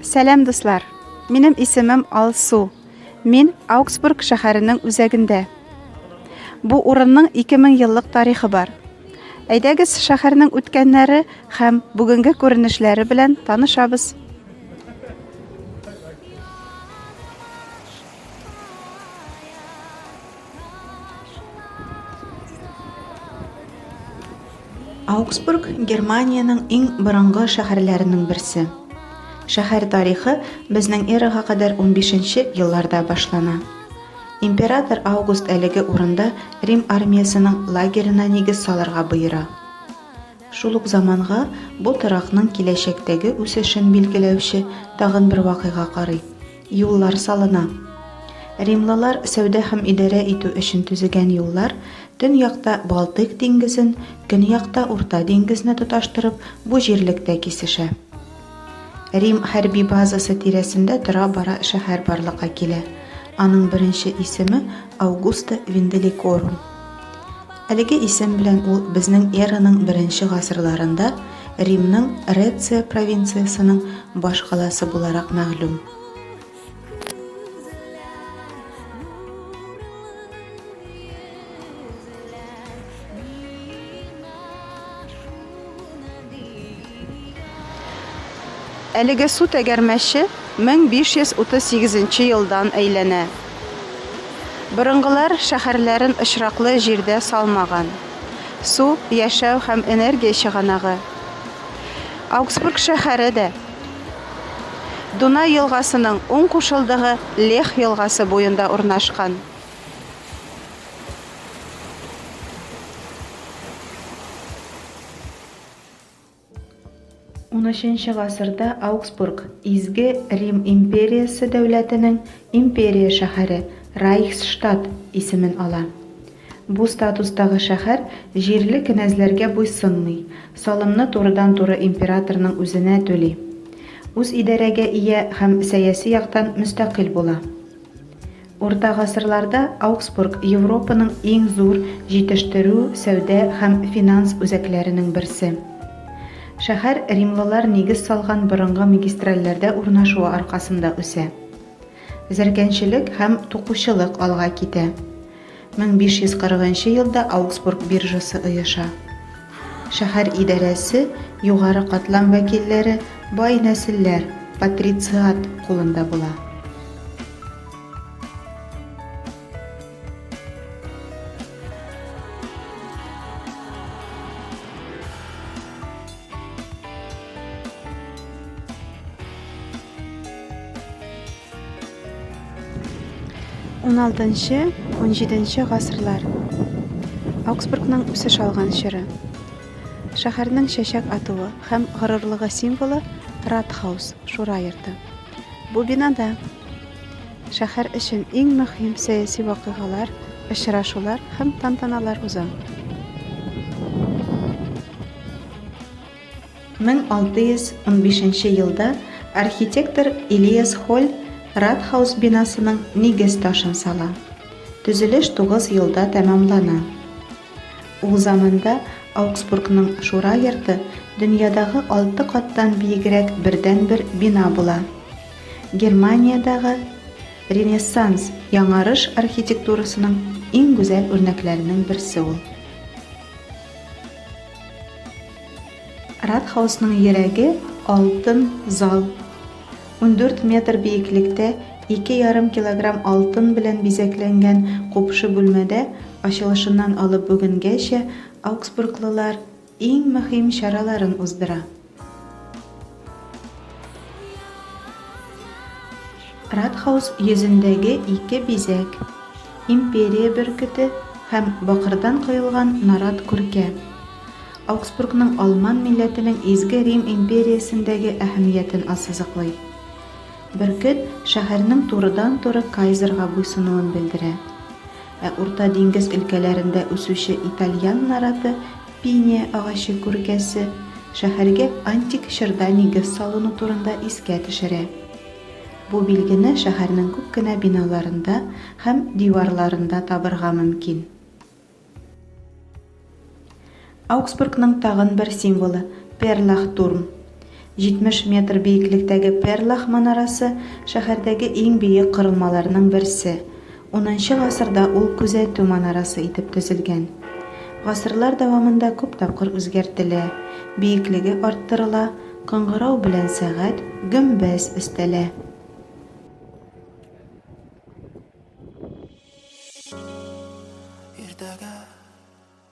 Сәлам дуслар! Минем исемем Алсу. Мин Аугсбург шәһәренең үзәгендә. Бу урынның 2000 еллык тарихы бар. Әйдәгез, шәһәрнең үткәннәре һәм бүгенге күренешләре белән танышабыз. Аугсбург Германиянең иң борынгы шәһәрләренең берсе. Шәһәр тарихы безнең эрага кадәр унбишенче елларда башлана. Император Август әлеге урында Рим армиясенең лагерена нигез салырга боера. Шул ук заманга бу торакның киләчәктәге үсешен билгеләүче тагын бер вакыйга карый, юллар салына. Римлылар сәүдә һәм идарә итү өчен төзегән юллар төньякта Балтыйк диңгезен, көньякта Урта диңгезне тоташтырып, бу җирлектә кисешә. Рим хәрби базасы тирәсендә тора-бара шәһәр барлыкка килә, аның беренче исеме Аугуста Винделикорум. Әлеге исем белән ул безнең эраның беренче гасырларында Римның Реция провинциясенең баш каласы буларак мәгълүм. Әлеге су тәгәрмәче 1538 нче елдан әйләнә. Борынгылар шәһәрләрен очраклы җирдә салмаган. Су, яшәү һәм энергия чыганагы. Аугсбург шәһәре дә Дунай елгасының уң кушылдыгы Лех елгасы буенда урнашкан. Унөченче гасырда Аугсбург, Изге Рим империясе дәүләтенең империя шәһәре, Райхсштадт, исемен ала. Бу статустагы шәһәр җирле кенәзләргә буйсынмый, салымны турыдан-туры императорның үзенә түли. Үзидарәгә ия һәм сәяси яктан мөстәкыйль була. Урта гасырларда Аугсбург Европаның иң зур җитештерү, сәүдә һәм финанс үзәкләренең берсе. Шәһәр римлылар нигез салган борынгы магистральләрдә урнашуы аркасында үсә. Зәркәнчелек һәм тукучылык алга китә. 1540 нчы елда Аугсбург биржасы оеша. Шәһәр идарәсе, югары катлам вәкилләре, бай нәселләр, патрициат, кулында була. 16-17 гасырлар. Аугсбургның үсеш алган чоры. Шәһәрнең чәчәк атуы һәм горурлыгы символы Ратхаус, шура йорты. Бу бинада шәһәр өчен иң мөһим сәяси вакыйгалар, очрашулар һәм тантаналар уза. 1615 нче елда архитектор Илиас Холь Ратхаус бинасының нигез ташын сала. Төзелеш тугыз елда тәмамлана. Ул заманда Аугсбургның Шура йорты дөньядагы алты каттан биегрәк бердәнбер бина була. Германиядәге Ренессанс яңарыш архитектурасының иң гүзәл үрнәкләренең берсе ул. Радхаусның йөрәге алтын зал. Ундүрт метр биеклектә ике ярым килограмм алтын белән бизәкләнгән купшы бүлмәдә ачылышыннан алып бүгенгәчә ауксбурглылар иң мөһим чараларын уздыра. Радхаус йөзендәге ике бизәк, империя бөркете һәм бакырдан коелган нарат күркә, Аугсбургның алман милләтенең Изге Рим империясендәге әһәмиятен ассызыклый. Бөркет шәһәрнең турыдан-туры кайзерга буйсынуын белдерә. Ә Урта диңгез өлкәләрендә үсүче итальян нараты Пиния агачы күркәсе шәһәргә антик чорда нигез салыну турында искә төшерә. Бу билгене шәһәрнең күп кенә биналарында һәм диварларында табырга мөмкин. Аугсбургның тагын бер символы, Перлахтурм. 70 метр биеклектәге Перлах манарасы, шәһәрдәге иң биек корылмаларның берсе. Унынчы гасырда ул күзәтү манарасы итеп төзелгән. Гасырлар дәвамында күп тапкыр үзгәртелә, биеклеге арттырыла, кыңгырау белән сәгать, гөмбәз өстәлә.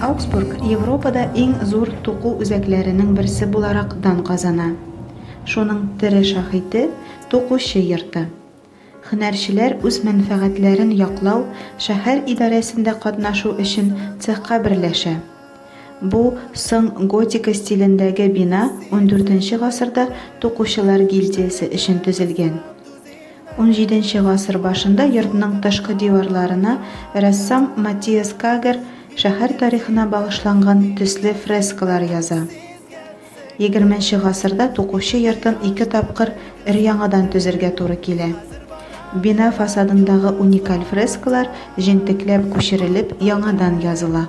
Аугсбург Европада иң зур туку үзәкләренең берсе буларак дан казана. Шуның тере шаһите, тукучы йорты. Һөнәрчеләр үз мәнфәгатьләрен яклау, шәһәр идарәсендә катнашу өчен цехка берләшә. Бу, соң готика стилендәге бина ундүртенче гасырда тукучылар гильдиясе өчен төзелгән. Унҗиденче гасыр башында йортның тышкы диварларына рәссам Матиас Кагер шәһәр тарихына багышланган төсле фрескалар яза. Егерменче гасырда тукучы йортын ике тапкыр өр-яңадан төзергә туры килә. Бина фасадындагы уникаль фрескалар җентекләп күчерелеп, яңадан языла.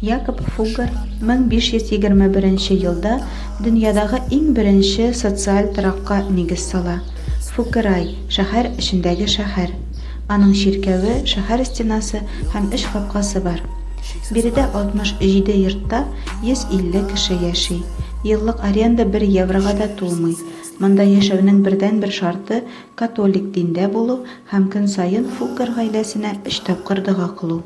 Якоб Фуггер 1521 елда дөньядагы иң беренче социаль торакка нигез сала. Фукерай, шәһәр эчендәге шәһәр. Аның чиркәве, шәһәр стенасы һәм өч капкасы бар. Биредә 67 йортта 150 кеше яши. Еллык аренда бер еврога да тулмый. Монда яшәүнең бердәнбер шарты, католик диндә булу һәм көн саен Фуккер гаиләсенә өч тапкыр дога кылу.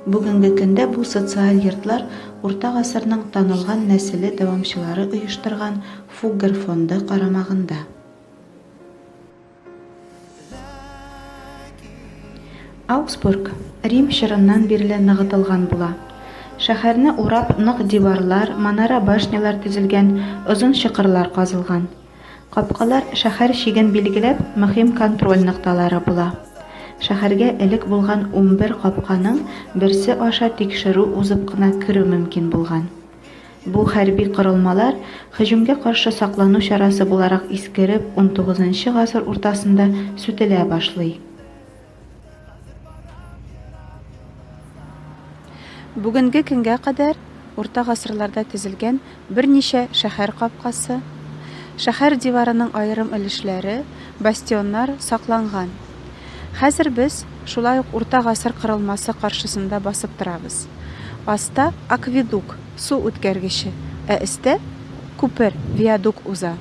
Бүгенге көндә бу социаль йортлар урта гасырның танылган нәселе дәвамчылары оештырган Фуггер фонды карамагында. Ауксбург Рим чорыннан бирле ныгытылган була. Шәһәрне урап нык диварлар, манара-башнялар төзелгән, озын чокырлар казылган. Капкалар шәһәр чиген билгеләп мөһим контроль нокталары була. Шәһәргә элек булган унбер капканың берсе аша тикшерү узып кына керү мөмкин булган. Бу хәрби корылмалар һөҗүмгә каршы саклану чарасы буларак искереп унтугызынчы гасыр уртасында сүтелә башлый. Бүгенге көнгә кадәр урта гасырларда төзелгән берничә шәһәр капкасы, шәһәр диварының аерым өлешләре, бастионнар сакланган. Хәзер без шулай ук урта гасыр кырылмасы каршысында басып торабыз. Аста, акведук, су үткәргече, ә өстә, күпер, виадук уза.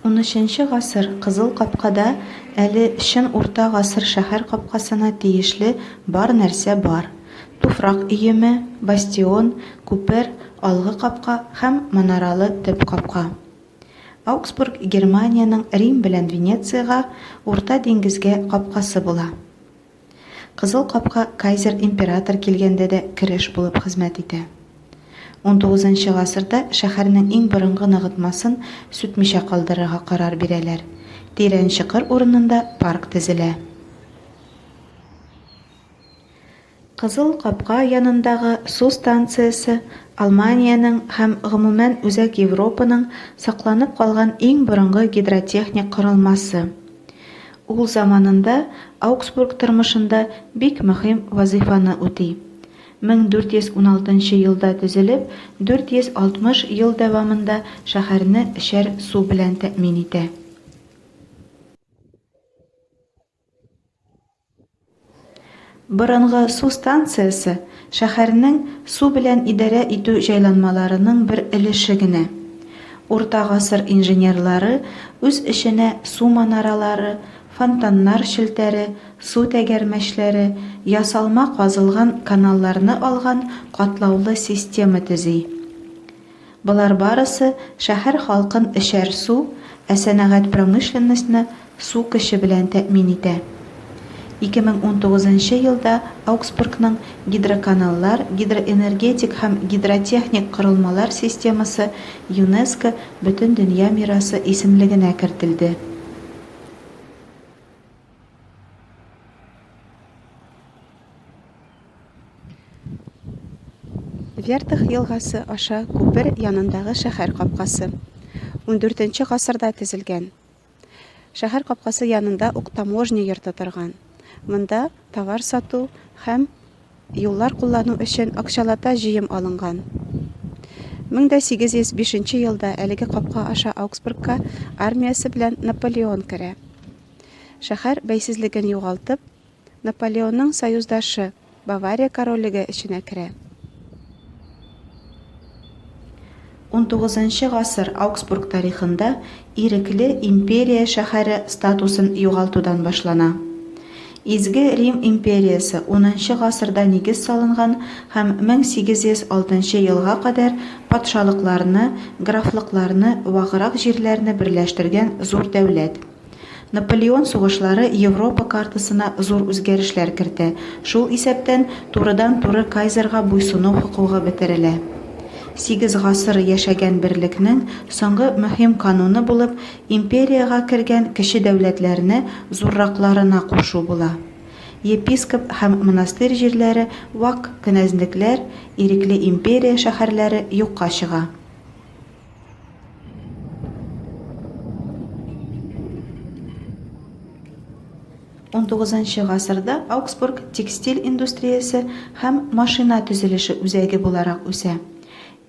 Унөченче гасыр Кызыл капкада әле чын урта гасыр шәһәр капкасына тиешле бар нәрсә бар, туфрак өеме, бастион, күпер, алгы капка һәм манаралы төп капка. Аугсбург Германиянең Рим белән Венециягә, Урта диңгезгә капкасы була. Кызыл капка Кайзер император килгәндә дә кереш булып хезмәт итә. Унтугызынчы гасырда шәһәрнең иң борынгы ныгытмасын сүтмичә калдырырга карар бирәләр, тирән чокыр урынында парк төзелә. Кызыл капка янындагы су станциясе Алманиянең һәм, гомумән, Үзәк Европаның сакланып калган иң борынгы гидротехник корылмасы. Ул заманында Аугсбург тормышында бик мөһим вазыйфаны үти. 1416 елда төзелеп, 460 ел дәвамында шәһәрне эчәр су белән тәэмин итә. Борынгы су станциясе шәһәрнең су белән идарә итү җайланмаларының бер өлеше генә. Урта гасыр инженерлары үз эченә су манаралары, фонтаннар челтәре, су тәгәрмәчләре, ясалма казылган каналларны алган катлаулы система төзи. Болар барысы шәһәр халкын эчәр су, ә сәнәгать промышленностьны су көче белән тәэмин итә. 2019 нчы елда Аугсбургның гидроканаллар, гидроэнергетик һәм гидротехник корылмалар системасы ЮНЕСКО Бөтендөнья мирасы исемлегенә кертелде. Вертых елгасы аша күпер янындагы шәһәр капкасы. 14 гасырда төзелгән. Шәһәр капкасы янында ук таможня йорты торган. Монда товар сату һәм юллар куллану өчен акчалата җыем алынган. 1805 елда әлеге капка аша Аугсбургка армиясе белән Наполеон керә. Шәһәр бәйсезлеген югалтып, Наполеонның союздашы, Бавария королеге эченә керә. Унтугызынчы гасыр Аугсбург тарихында ирекле империя шәһәре статусын югалтудан башлана. Изге Рим империясе унынчы гасырда нигез салынган һәм 1806 елга кадәр патшалыкларны, графлыкларны, ваграк җирләрне берләштергән зур дәүләт. Наполеон сугышлары Европа картасына зур үзгәрешләр кертә, шул исәптән турыдан-туры кайзерга буйсыну хокугы бетерелә. Сигез гасыр яшәгән берлекнең соңгы мөһим кануны булып империягә кергән кече дәүләтләрне зурракларына кушу була. Епископ һәм монастырь җирләре, вак кенәзлекләр, ирекле империя шәһәрләре юкка чыга. Он тугызынчы гасырда Аугсбург текстиль индустриясе һәм машина төзелеше үзәге буларак үсә.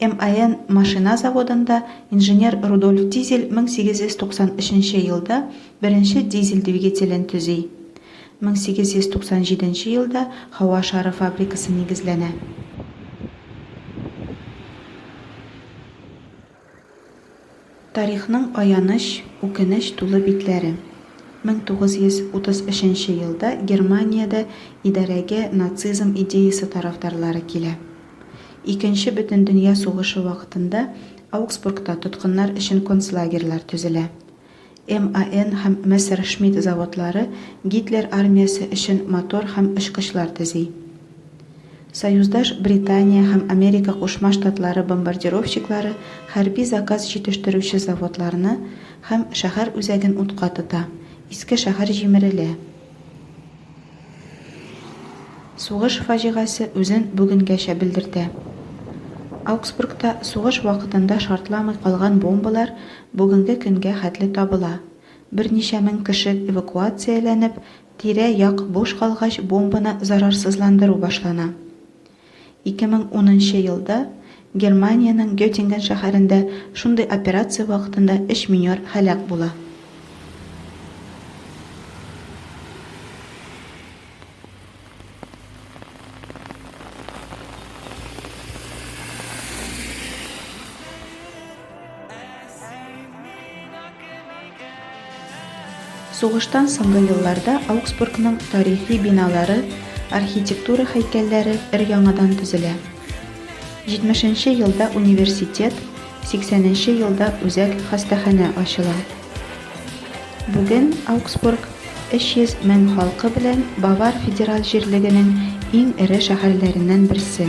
МАН машина заводында инженер Рудольф Дизель 1893 елда беренче дизель двигателен төзи. 1897 елда һава шары фабрикасы нигезләнә. Тарихның аяныч, үкенеч тулы битләре. 1933 елда Германиядә идарәгә нацизм идеясе тарафдарлары килә. Икенче бөтендөнья сугышы вакытында Аугсбургта тоткыннар өчен концлагерьлар төзелә. МАН һәм Мессершмитт заводлары Гитлер армиясе өчен мотор һәм очкычлар төзи. Союздаш Британия һәм Америка Кушма Штатлары бомбардировщиклары хәрби заказ җитештерүче заводларны һәм шәһәр үзәген утка тота, иске шәһәр җимерелә. Сугыш фаҗигасе үзен бүгенгәчә белдертә. Аугсбургта сугыш вакытында шартламый калган бомбалар бүгенге көнгә хәтле табыла. Берничә мең кеше эвакуацияләнеп, тирә-як буш калгач бомбаны зарарсызландыру башлана. 2010 нчы елда Германиянең Геттинген шәһәрендә шундый операция вакытында өч минер һәлак була. Сугыштан соңгы елларда Аугсбургның тарихи биналары, архитектура һәйкәлләре өр-яңадан төзелә. 70 нче елда университет, 80 нче елда үзәк хастаханә ачыла. Бүген Аугсбург 300 мең халкы белән Бавар федераль җирлегенең иң эре шәһәрләреннән берсе.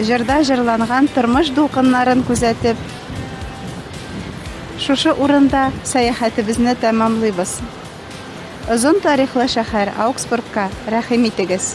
Җырда җырланган тормыш дулкыннарын күзәтеп, шушы урында сәяхәтебезне тәмамлыйбыз. Озын тарихлы шәһәр Аугсбургка рәхим итегез.